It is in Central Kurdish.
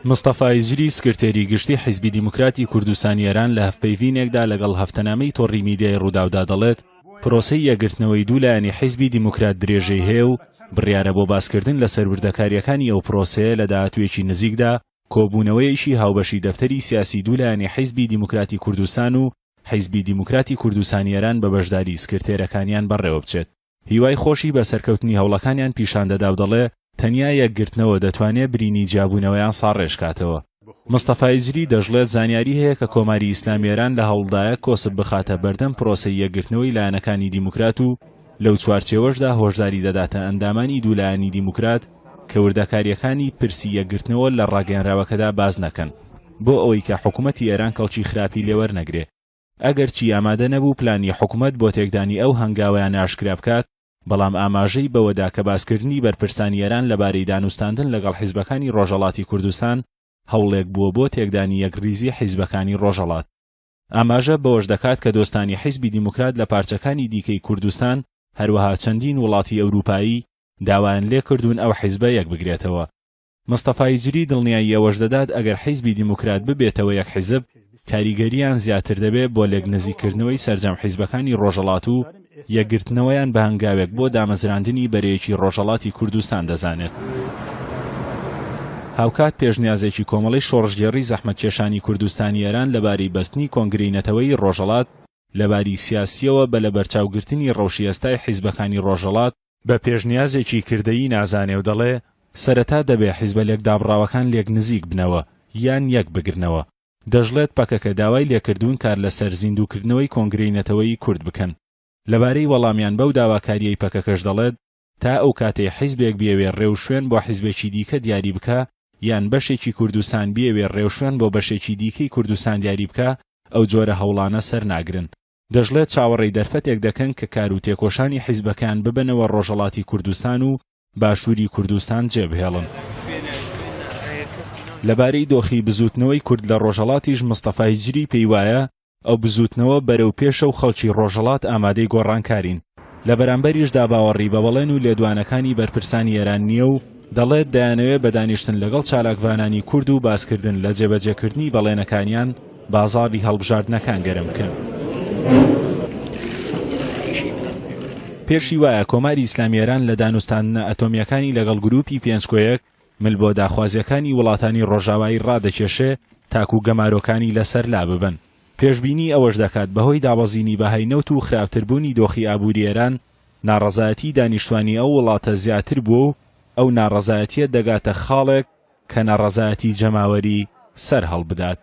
مستەفا هیجری سکرتێری گشتی حیزبی دیموکراتی کوردستانی ئێران لە هەڤپەیڤینێکدا لەگەڵ هەفتەنامەی تۆڕی میدیای رووداودا دەڵێت، پرۆسەی یەکگرتنەوەی دوو لایەنی حیزبی دیموکرات درێژەی هەیە و بڕیارە بۆ باسکردن لەسەر وردەکارییەکانی ئەو پرۆسەیە لە داهاتوویەکی نزیکدا کۆبوونەوەیەکی هاوبەشی دەفتەری سیاسی دوو لایەنی حیزبی دیموکراتی کوردستان و حیزبی دیموکراتی کوردستانی ئێران بە بەشداری سکرتێرەکانیان بەڕێوەبچێت. هیوای خۆشی بە سەرکەوتنی هەوڵەکانیان پیشان دەدا و دەڵێ، تەنیا یەکگرتنەوە دەتوانێ برینی جیابوونەوەیان ساڕێژ کاتەوە. مستەفا ئیجری دەشڵێت، زانیاری هەیە کە کۆماری ئیسلامی ئێران لە هەوڵدایە کۆسپ بخاتە بەردەم پرۆسەی یەکگرتنەوەی لایەنەکانی دیموکرات و لەو چوارچێوەشدا هۆشداری دەداتە ئەندامانی دوو لایەنی دیموکرات کە وردەکارییەکانی پرسی یەکگرتنەوە لە ڕاگەیەنراوەکەدا باس نەکەن بۆ ئەوەی کە حکوومەتی ئێران کەڵکی خراپی لێ وەرنەگرێ. ئەگەرچی ئامادە نەبوو پلانی حکومەت بۆ تێکدانی ئەو هەنگاویانە ئاشکرا بکات، بەڵام ئاماژەی بەوەدا کە باسکردنی بەرپرسانی ئێران لەبارەی دانوستاندن لەگەڵ حیزبەکانی ڕۆژهەڵاتی کوردستان هەوڵێک بووە بۆ تێکدانی یەکڕیزی حیزبەکانی ڕۆژهەڵات. ئاماژە بەوەش دەکات کە دۆستانی حیزبی دیموکرات لە پارچەکانی دیکەی کوردستان، هەروەها چەندین وڵاتی ئەوروپایی، داوایان لێکردوون ئەو حیزبە یەکبگرێتەوە. مستەفا هیجری دڵنیایی ئەوەش دەدات ئەگەر حیزبی دیموکرات ببێتەوە یەک حیزب، کاریگەرییان زیاتر دەبێت بۆ لێکنزیککردنەوەی سەرجەم حیزبەکانی رۆژهەڵات و یەکگرتنەوەیان بە هەنگاوێک بۆ دامەزراندنی بەرەیەکی رۆژهەڵاتی کوردستان دەزانێت. هاوکات پێشنیازێکی کۆمەڵەی شۆڕشگێڕی زەحمەتکێشانی کوردستانی ئێران لەبارەی بەستنی کۆنگرەی نەتەوەیی رۆژهەڵات لەباری سیاسییەوە بە لەبەرچاوگرتنی رەوشی ئێستای حیزبەکانی رۆژهەڵات بە پێشنیازێکی کردەیی نازانێ و دەڵێ، سەرەتا دەبێ حیزبە لێکدابڕاوەکان لێک نزیک بنەوە یان یەک بگرنەوە. دەشڵێت پەکەکە داوای لێکردوون کار لە سەر زیندووکردنەوەی کۆنگرەی نەتەوەیی کورد بکەن. لە بارەی وەڵامیان بەو داواکارییەی پەکەکەش دەڵێت، تا ئەو کاتەی حیزبێک بیەوێ رێوشوێن بۆ حیزبێکی دیکە دیاری بکا یان بەشێکی کوردستان بیەوێ رێوشوێن بۆ بەشێکی دیکەی کوردستان دیاری بکا ئەو جۆرە هەوڵانە سەر ناگرن. دەشڵێت چاوەڕێی دەرفەتێک دەکەن کە کار و تێکۆشانی حیزبەکەیان ببەنەوە ڕۆژەڵاتی کوردستان و باشووری کوردستان جێبهێڵن. لەبارەی دۆخی بزووتنەوەی کورد لە ڕۆژەڵاتیش مستەفا هیجری پێی وایە ئەو بزووتنەوە بەرەو پێشە و خەڵکی ڕۆژەڵات ئامادەی گۆڕانکارین، لە بەرامبەریشدا باوەڕی بە بەڵێن و لێدوانەکانی بەرپرسانی ئێران نییە و دەڵێت دەیانەوێت بە دانیشتن لەگەڵ چالاکڤانانی کورد و باسکردن لە جێبەجێکردنی بەڵێنەکانیان بازاڕی هەڵبژاردنەکان گەرم بکەن. پێشی وایە کۆماری ئیسلامی ئێران لە دانوستاندنە ئەتۆمییەکانی لەگەڵ گرووپی پێنج کۆ یەک مل بۆ داخوازییەکانی وڵاتانی ڕۆژاوایی ڕادەکێشێ تاکوو گەمارۆکانی لە سەر لا ببەن. پێشبینی ئەوەش دەکات بە هۆی دابەزینی بەهای نەوت و خراپتر بوونی دۆخی ئابووری ئێران ناڕەزایەتیی دانیشتوانی ئەو وڵاتە زیاتر بووە و ئەو ناڕەزایەتییە دەگاتە خاڵێک کە ناڕەزایەتی جەماوەری سەر هەڵبدات.